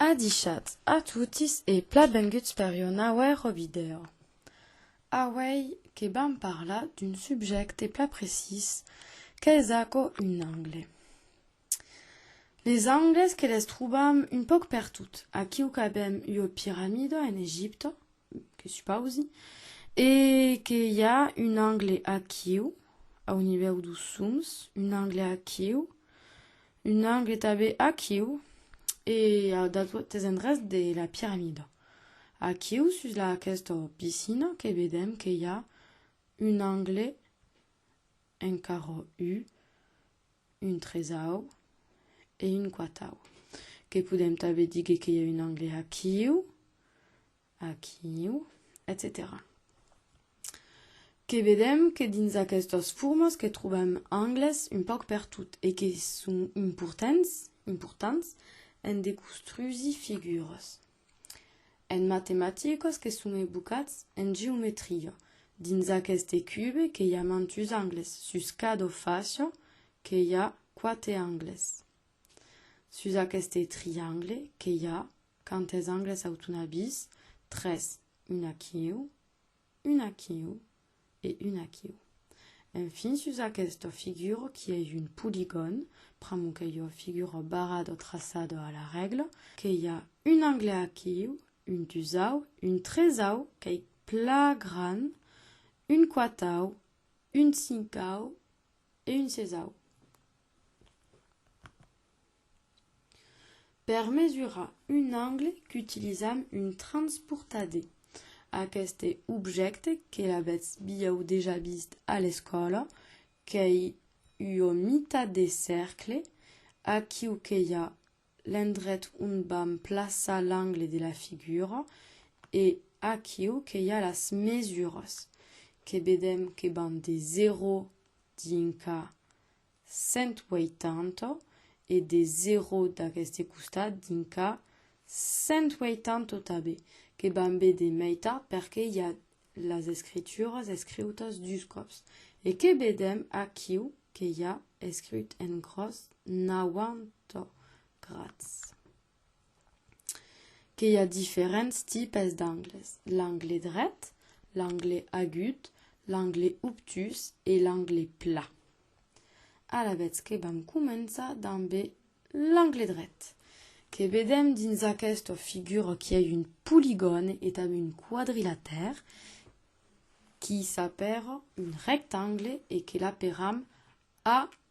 Adichat a totis e platbenguts per ua nauèro vidèo. Auèi que vam parlar d'un subjècte plat precís qu'es aquò un angle. Les angles que les trobam un pauc pertot, aquiu qu'avèm ua piramida en Egipta, que supausi, e que i a un angle aquiu, au nivèu dos soms, un angle aquiu, Un angle e tanben aquiu e a d'autres endrechs de la piramida. Aquiu sus la aquesta piscina que vedèm que i a un angle encara u, un tresau e un quatau. Que podèm tanben díger que i a un angle aquiu Aquiu, etcetèra Que vedèm que dins aquestas formas que trobèm angles un pauc pertot e que son importants, importants en de costrusi figuras. En matematicas que son ebucats en geometria, dins aqueste cube que i a mantus angles, sus cada fàcia que i a quate angles. Sus aqueste triangle que i a Quantes angles autonabis? Tres, un aquiu, un aquiu e un aquiu. Enfin, sus aquesta figura qu'i ei un poligòn, pr'amor qu'ei ua figura barrada o traçada a la règla, qu'i a un angle aquiu, un dusau, un tresau, qu'ei pla gran, un quatau, un cincau e un sesau. Per mesurar un angle qu'utilizam un transportadè. Aqueste objècte que l'avètz biau dejà vist a l'escòla qu'ei ua mita de cercle, aquiu que i a l'endret ont vam plaçar l'angle de la figura e aquiu que i a las mesuras que vedèm que van de 0 dinca 180 e de 0 d'aqueste costat dins ca 180 tabe que vam be de meitar perque i a las escrituras escriutas dus còps e que bedem aquiu que i a escriut en gròs 90 grads. que i a diferents tipes d'angles, l'angle dret, l'angle agut, l'angle obtus e l'angle plat. Alavetz que vam començar damb l'angle dret, que vedem dins aquesta figura qu'i a un poligòne e tanben un quadrilatèr, qui s'apèra un rectangle e que l'aperam A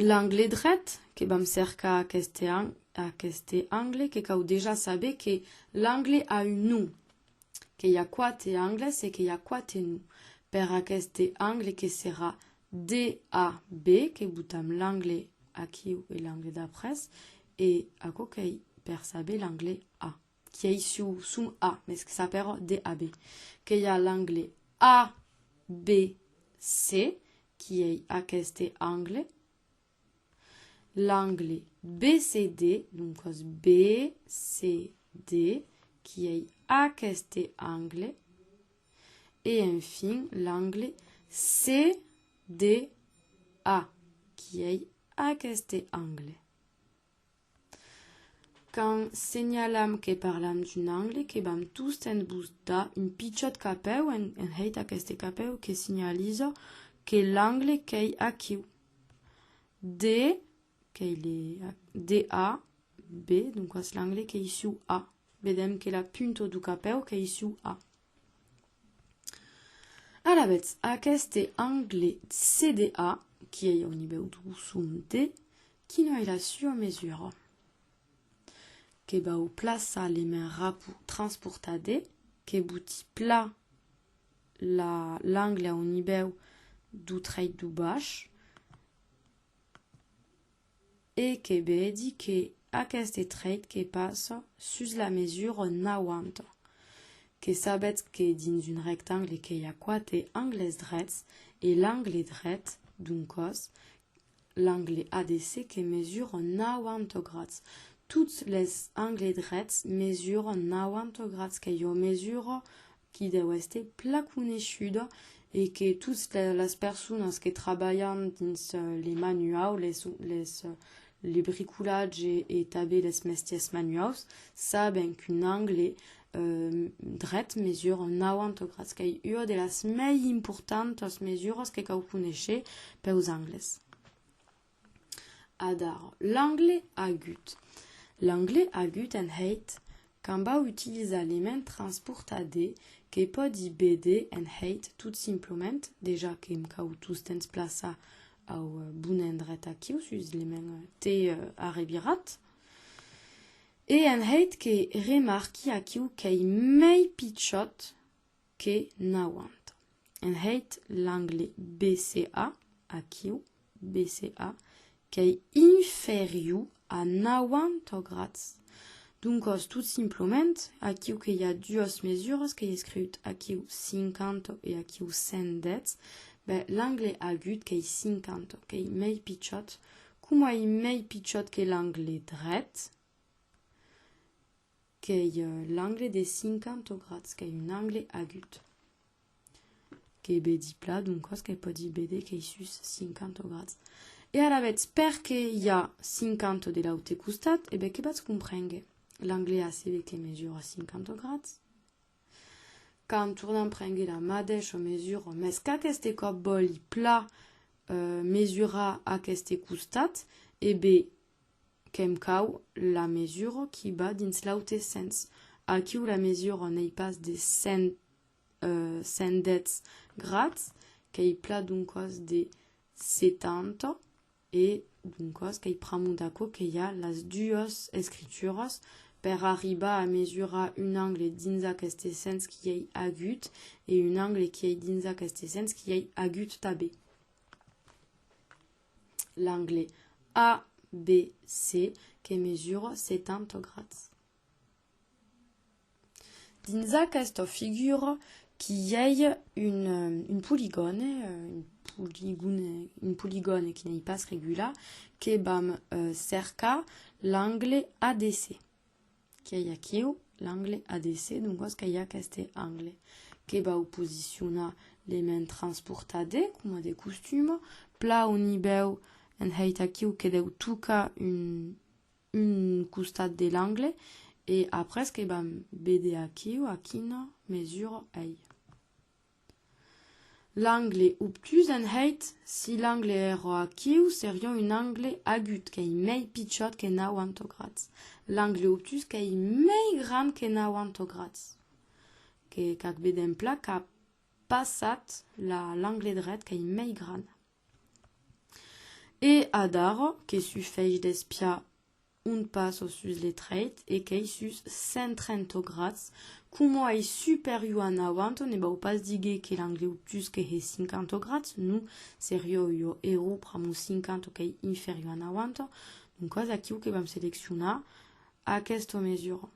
L'angle dret que vam cercar aqueste an, aqueste angle que cau dejà saber que l'angle a un nu, que i a quate angles e que i a quate nu. Per aqueste angle que serà DAB que botam l'angle aquiu e l'angle d'après e aquò qu'ei per saber l'angle A. qui ei su sum A, mes que sa però DAB, que i a l'angle ABC, qui ei aqueste angle, l'angle BCD, non cos BCD, qui ei aqueste angle, e enfin l'angle CDA, qui ei aqueste angle. Quand senhalam que parlam d'un angle que vam tostemps bostar un pichòt capèu en hèit aqueste capèu que senhaliza que l'angle qu'ei aquiu. De, qu'ei le, DA, B, doncas l'angle qu'ei suu A. Vedèm que la punta du capèu qu'ei suu A. Alavetz, aqueste angle CDA, qui ei au nivèu du son D, Quina ei la sua mesura? Que vau plaçar le main rapu transportade, que boti pla la l'angle au nivèu du treit du bach e que vedi que aqueste treit que passa sus la mesura n'auanta. Que sabetz que dins un rectangle que i a quate angles drets e l'angle dret d'un còs L'angle ADC que mesura 90 grads. Tots les angles drets mesuran 90 grads que jo mesuro, qui deu èster plan coneishuda e que tots las personas que trabalhan dins les manuaus, les les le bricolatge e tanben les mestièrs manuaus saben qu'un angle dret mesura 90 grads qu'ei ua de las mei importantas mesuras que cau conéisher peus angles adar l'angle agut l'angle agut en hate quand vau utilizar l'ement transportar de que pòdi bede en hate tot simplement dejà que me cau tous temps plaçar au bon endret aquiu sus l'ement te arrevirat E en hèit que remarqui aquiu qu'ei mei pichòt que nauant. En hèit l'angle BCA, aquiu, BCA, qu'ei inferiu a nauanta grads. Doncòs, tot simplement, aquiu que i a duas mesuras, qu'ei escriut aquiu 50 e aquiu 110, ben, l'angle agut qu'ei 50, qu'ei mei pichòt Coma ei mei pichòt que l'angle dret, qu'ei l'angle de 50 grats, qu'ei un angle agut. Qu'ei bedi plat, doncòs que pòdi béder qu'ei sus 50 grats. E ara vetz, perque i a 50 de l'aute costat, e ben que batz comprénguer. L'angle AC ve que mesura 50 grats. Quand tornan prengui la madeisha mesura, mes qu'aqueste còp vòli pla mesurar aqueste costat, e be qu'èm cau la mesura qui va dins l'aute sens. Aquiu la mesura n'ei pas de 100 110 grads, qu'ei pla d'un còs de 70. E doncas qu'ei pr'amor d'aquò que i a las duas escrituras, per arribar a mesurar un angle dins aqueste sens qui ei agut e un angle qui ei dins aqueste sens qui ei agut tanben. L'angle ABC que mesura 70 grads. Dins aquesta figura qu'i ei un poligòne, un poligòne qui n'ei pas regular, que vam cercar l'angle ADC. Qu'ei aquiu l'angle ADC, doncas qu'ei aqueste angle que vau posicionar l'element transportat D, coma de costum, plan au nivèu enheit aquiu que deu tocar un un costat de l'angle e après que vam veder aquiu a quina mesura ei l'angle obtús en hèit, si l'angle èra aquiu seriá un angle agut qu'ei mei pichòt que 90 grads, l'angle obtús qu'ei mei grand que 90 grads, que qu'ac vedèm plan qu'a passat la l'angle dret qu'ei mei grand. E adara, que su fèish d'espiar un passo sus le trèit e qu'ei sus 130 grads, coma ei superior a nauanta, ne vau pas díger que l'angle obtús que hè 50 grads, non, serió ua error pr'amor 50 qu'ei inferior a nauanta, doncas aquiu que vam seleccionar aquesta mesura.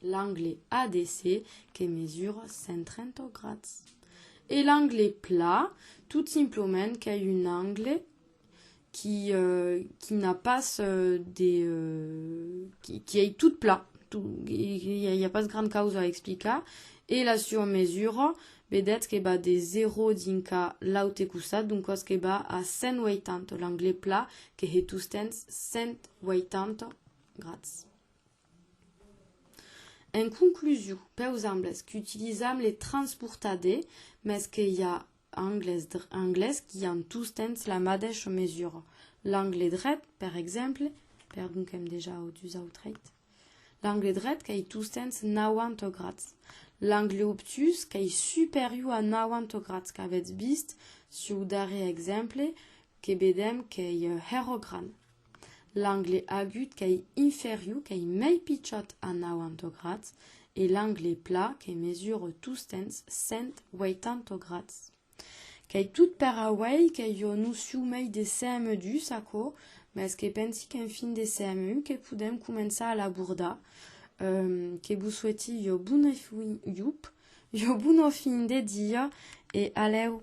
L'angle ADC que mesura 130 grads. E l'angle pla, tot simplement qu'ei un angle qui, euh, qui n'a pas euh, de... Euh, qui, qui ei tot pla. Tot, il n'y a pas gran causa a explicar. E la surmesura Vedètz que va de 0 dinca l'aute costat, d'un còs que va a 180, l'angle pla que he tustens 180 grads. En conclusion, peus angles qu'utilizam les transportade, mès que i a angles qui an tustens la madeisha mesura. L'angle dret, per exemple, perdon qu'èm dejà au dus autreit, L'angle dret qu'ei tostemps 90 grads. L'angle obtús qu'ei superior a 90 grads qu'avètz vist su'u darrier exemple que vedèm qu'ei hèro gran. L'angle agut qu'ei inferior, qu'ei mei pichòt a 90 grads e l'angle plat que mesure tostemps 180 grads. Qu'ei tot per auei que jo no siu mei de CME dus, aquò, mès que pensi qu'en fin de CMU que podem començar a l'abordar. Um, que vos soueti jo bona fin, iup, jo bona fin de dia e alèu!